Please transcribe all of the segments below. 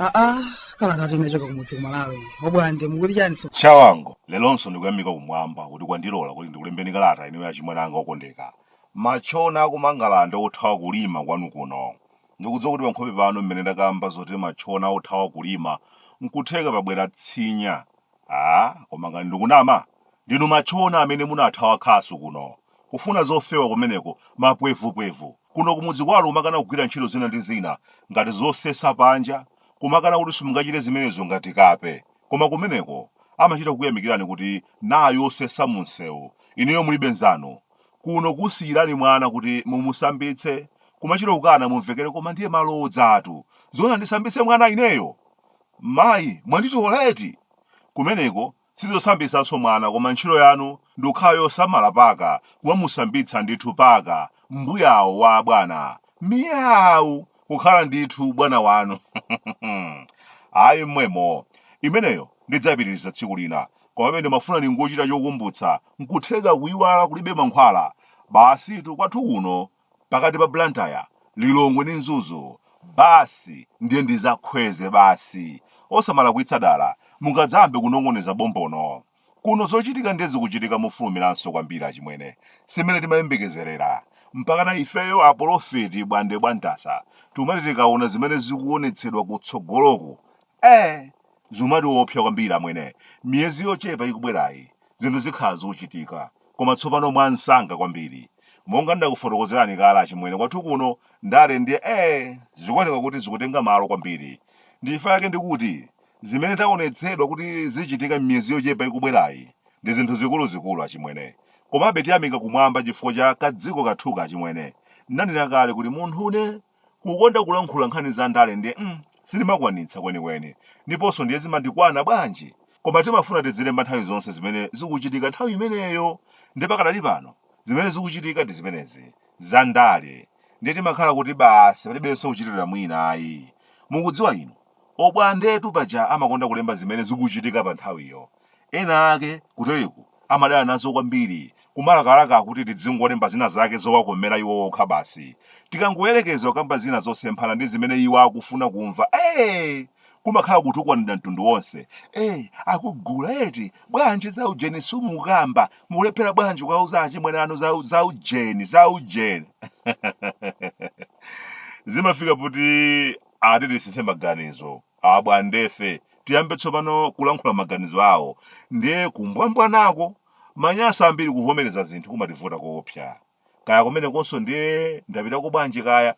aa kalatatu inachoka kumudzi kumalawi obwande mukuti chani so chawango lelonso ndikuyamika kumwamba kuti kwandilola kuti ndikulembeni kalata inuyo achimwene anga okondeka matchona akumangalande othawa kulima kwanu kuno Ndikudziwa kuti pankhope pano mmene ndakamba zoti matchona othawa kulima nkutheka pabwera tsinya aah koma ngati ndikunama ndinu matchona amene munathawa khasu kuno kufuna zofewa kumeneko mapwevupwevu kuno kumudzi kwanu kumakana kugwira ntchito zina ndi zina ngati zosesa panja kumakana kuti simungachite zimenezo ngati kape koma kumeneko amachita kukuyamikirani kuti nayo zosesa mumsewu inuyo mulibe nzanu kuno kusiyirani mwana kuti mumusambitse kumachita kukana mumvekere koma ndiye malodzatu zona ndisambitse mwana ineyo mayi mwanditola eti kumeneko sizosambitsanso mwana koma ntchito yanu ndi kukhala yosamala paka kumamusambitsa ndithu paka mbuyawo wa abwana miyawu kukhala ndithu bwana wanu ayi mmwemo imeneyo ndidzapitiriza tsiku lina Komabe ndimafuna ndingochita chokumbutsa, nkutheka kuyiwala kulibe mankhwala. Basitu kwathu kuno pakati pa Blantyre, Lilongwe ndi Mzuzu basi ndiye ndizakhweze basi. Osamalakwitsa dala, mungadzayambe kunong'oneza bombono. Kuno zochitika ndiye zikuchitika mofulumiranso kwambiri achimwene, si mmene timayembekezerera. Mpakana ifeyo apolofeti bwande bwantasa tikumati tikaona zimene zikuonetsedwa kutsogoloku, ee! Zimatiopsa kwambiri amwene. Miyezi yochepa ikubwerayi, zinthu zikhala zikuchitika. Koma tsopano mwansanga kwambiri. Monga ndinakufotokozerani kale achimwene kwathu kuno ndale ndiye ee zikuoneka kuti zikutenga malo kwambiri. Ndichifukwa chake ndikuti zimene taonetsedwa kuti zichitika m'miyezi yochepa ikubwerayi ndi zinthu zikuluzikulu achimwene. Komabe tiyamika kumwamba chifukwa cha kadziko kathuka achimwene. Ndinanena kale kuti munthune Kukonda kulankhula nkhani za ndale ndiye mm, sindimakwanitsa kwenikweni ndiponso ndiye zimandikwana bwanji? Koma timafuna tizilemba nthawi zonse zimene zikuchitika nthawi imeneyo. Ndiye pakadali pano zimene zikuchitika ndi zimenezi, za ndale. Ndiye timakhala kuti basi palibenso kuchitira mwina ayi. Mukudziwa inu, Obwandetu paja amakonda kulemba zimene zikuchitika pa nthawiyo. Ena ake kuteriku amadana nazo kwambiri, kumalakalaka kuti tidzingolemba zina zake zowakomera iwo okha basi. Tikangoyerekeza kukamba zina zosemphana ndi zimene iwo akufuna kumva, ee! kumakhala kutukwanidwa mtundu wonse. Ee, akugula eti, bwanji za ujeni sumukamba, mukulephera bwanji kuwauza achimwene anu za, za ujeni, za ujeni. Zimafika poti ati tisinthe maganizo. abwandefe tiyambe tsopano kulankhula maganizo awo ndiye kumbwambwanako manyasa ambiri kuvomereza zinthu kumativuta koopsa kaya kumenekonso ndiye ndapitako bwanji kaya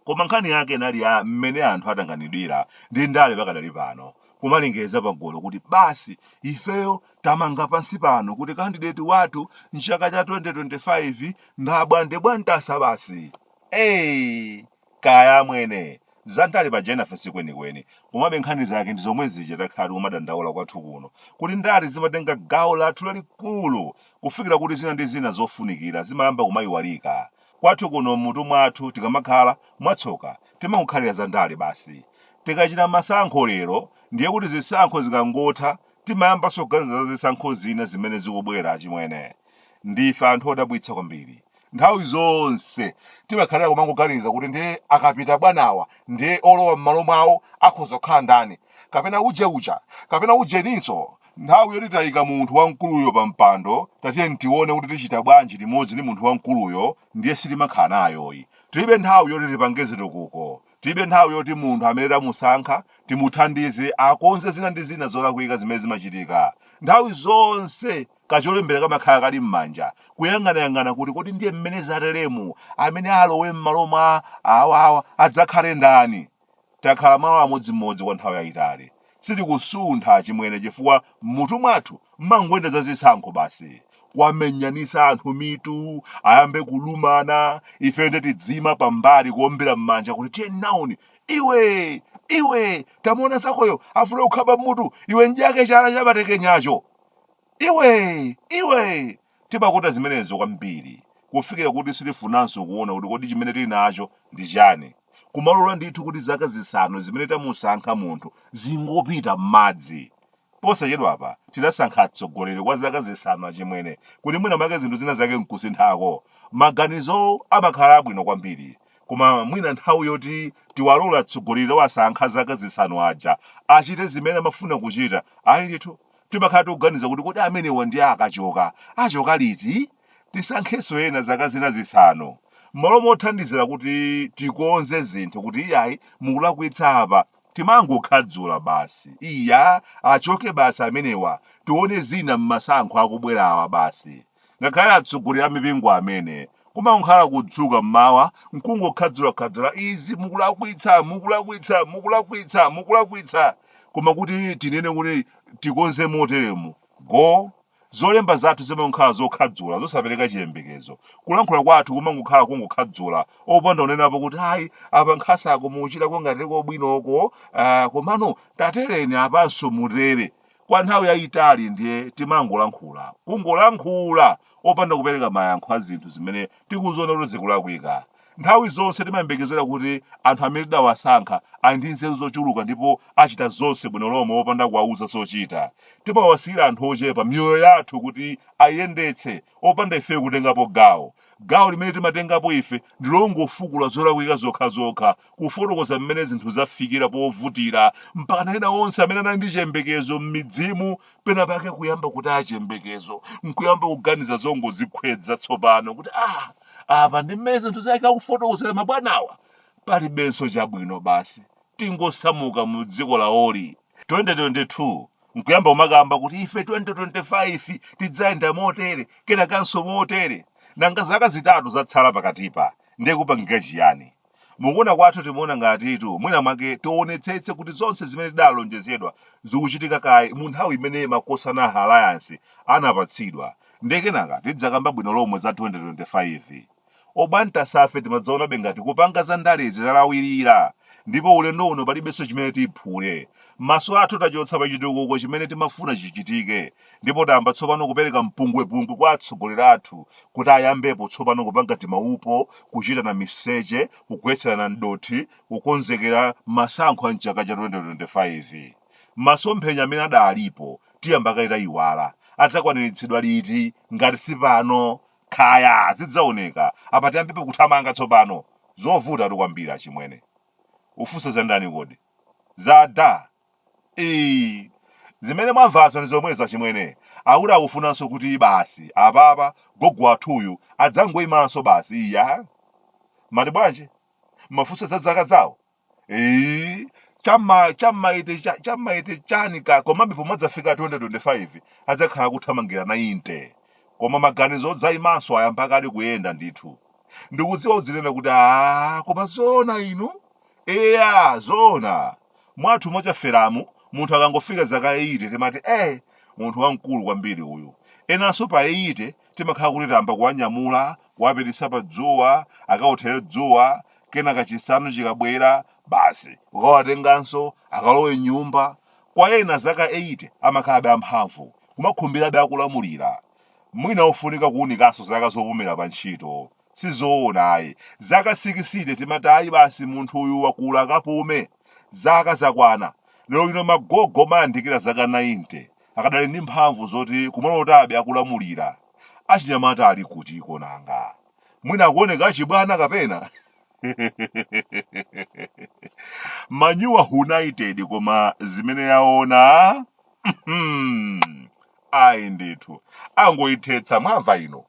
koma nkhani yake inali ya mmene anthu atanganidwira ndi ndale pakadali pano kumalengeza pagulu kuti basi ifeyo tamanga pansi pano kuti kandideti wathu mchaka cha 2025 ndi abwande bwantasa basi eyi Kaya amwene, zandale paja enafe sikwenikweni, komabe nkhani zake ndi zomwe zija takhala tikumadandaula kwathu kuno, kuti ndale zimatenga gawo lathu lalikulu kufikira kuti zina ndi zina zofunikira zimayamba kumayiwalika. Kwathu kuno m'mutu mwathu tikamakhala, mwatsoka, timangokhalira za ndale basi. Tikachita masankho lero, ndiye kuti zisankho zikangotha timayambanso kuganiza za zisankho zina zimene zikubwera. Achimwene, ndife anthu odabwitsa kwambiri. nthawi zonse timakhalira kumangoganiza kuti ndiye akapita bwanawa ndiye olowa m'malo mwawo akhoza kukhala ndani kapena uje uja kapena ujeninso nthawi yoti tayika munthu wamkuluyo pa mpando tatiyeni tione kuti tichita bwanji limodzi ndi munthu wamkuluyo ndiye sitimakhala nayo ayi tilibe nthawi yoti tipange zitukuko tilibe nthawi yoti munthu amene tamusankha timuthandize akonze zina ndi zina zolakwika zimene zimachitika nthawi zonse Kacholembera kamakhala kali m'manja, kuyang'anayang'ana kuti kodi ndiye mmene zateremu, amene alowe mmalo mwa awawa adzakhale ndani? Takhala malo amodzimodzi kwa nthawi yayitali. Sitikusuntha achimwene chifukwa m'mutu mwathu mmangoyenda za zisankho basi. Kuwamenyanitsa anthu mitu, ayambe kulumana, ifeyo nde tidziima pambali kuombera mmanja kuti tiye nawoni! Iwe! Iwe! Tamuona zakoyo, afuna kukhapa mmutu, iwe m'dyeke chala chapatekenyacho! Iwe! Iwe! Timakonda zimenezo kwambiri kufikira kuti sitifunanso kuona kuti kodi chimene tili nacho ndi chani. Kumalola ndithu kuti zaka zisanu zimene tamusankha munthu zingopita m'madzi. Posachedwapa tidasankha atsogoleri kwa zaka zisanu achimwene kuti mwina mwake zinthu zina zake n'kusinthako. Maganizowo amakhala abwino kwambiri. Koma mwina nthawi yoti tiwalole atsogoleri tawasankha zaka zisanu aja achite zimene amafuna kuchita, ayi ndithu. timakhala tikuganiza kuti kodi amenewa ndiye akachoka achoka liti tisankhenso ena zaka zina zisanu m'malo mothandizira kuti tikonze zinthu kuti iyayi mukulakwitsa apa timangokhadzula basi iya achoke basi amenewa tione zina m'masankho akubwerawa basi ngakhale atsogoleri a mipingo amene kumakhala kudzuka mmawa nkungokhadzulakhadzula izi mukulakwitsa mukulakwitsa mukulakwitsa mukulakwitsa koma kuti tinene kuti tikonze moteremu go zolemba zathu zimakhala zokhadzula zosapereka chiyembekezo kulankhula kwathu kumangokhala kungokhadzula opanda kunenapo kuti ayi apa nkhasako mukuchitako ngati kobwinoko ah, komano tatereni apanso mutere kwa nthawi yayitali ndiye timangolankhula kungolankhula opanda kupereka mayankho a zinthu zimene tikuziona kuti zikulakwika nthawi zonse timayembekezera kuti anthu amene tidawasankha ali ndi nzeru zochuluka ndipo achita zonse bwino lomwe opanda kuwauza zochita timawasiyira anthu ochepa miyoyo yathu kuti ayendetse opanda ifeyo kutengapo gawo Gawo limene timatengapo ife ndi longofukula zolakwika zokhazokha, kufotokoza mmene zinthu zafikira povutira mpakana ena onse amene anali ndi chiyembekezo m'midzimu penapake kuyamba kutaya chiyembekezo, n'kuyamba kuganiza zongodzikhwedza tsopano kuti, Ah, apa ndi mmene zinthuzi akufotokozera mabwanawa? Palibenso chabwino basi. Tingosamuka mu dziko lawoli. 2022 nkuyamba kumakamba kuti ife 2025 tidzayenda motere kenakanso motere nanga zaka zitatu zatsala pakatipa ndiye kupangike chiyani mukuona kwathu timaona ngatitu mwina mwake tionetsetse kuti zonse zimene tidalonjezedwa zikuchitika kaye mu nthawi imene makosana a alliance anapatsidwa ndiye kenaka tidzakamba bwino lomwe za 2025 Obantasafe timangoonabe ngati kupanga za ndalezi talawilira ndipo ulendo uno palibenso chimene tiphule. Maso athu tachotsa pa chitukuko chimene timafuna chichitike ndipo tayamba tsopano kupereka mpungwepungwe kwa atsogoleri athu kuti ayambepo tsopano kupanga timaupo, kuchitana miseche, kugwetserana m'dothi, kukonzekera masankho a m'chaka cha 2025. Masomphenya amene adalipo tiyambe kaye taiwala, adzakwaniritsidwa liti ngati si pano? Kaya, zidzaoneka. Apa tayambapo kuthamanga tsopano. Zovutatu kwambiri achimwene. Ufunsa za ndani kodi? Za da. Ii. Zimene mwamvazo ndi zomwezo achimwene. Akuti akufunanso kuti basi apapa gogo wathuyu adzangoimanso basi iya. Mati bwanji? Mafunsa za zaka zawo? Eh, chama chamaite cha- chamaite chani ka komabe pomadzafika 2025 adzakhala akuthamangira 90 koma maganizo odzaimanso ayamba kale kuyenda ndithu ndikudziwa udzinena kuti a koma zoona inu eya zoona mwathu mochafera mu munthu akangofika zaka 80 timati eh munthu wamkulu kwambiri uyu enanso pa 80 timakhala kuti tayamba kuwanyamula kuwapititsa pa dzuwa akawothere dzuwa kenaka chisanu chikabwera basi kukawatenganso akalowe m'nyumba kwa ena zaka 80 amakhalabe amphamvu kumakhumbirabe akulamulira mwina ufunika kuunikanso zaka zopumira pa ntchito sizoona ayi zaka 60 timati ayi basi munthu uyu wakula akapume zaka zakwana lero lino magogo mwayandikira zaka 90 akadali ndi mphamvu zoti kumalotabe akulamulira achinyamata ali kutiko nanga mwina akuoneka achibwana kapena man united koma zimene yaona mhm, ayi ndithu angoyithetsa mwamva inu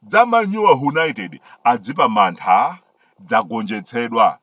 za man united adzipa mantha dzagonjetsedwa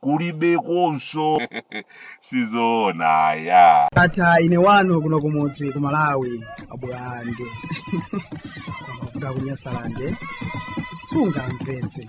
kulibekonso sizoona yatha ine wanu kuno kumudzi ku malawi abwande kuda kunyasalande sunga mvetse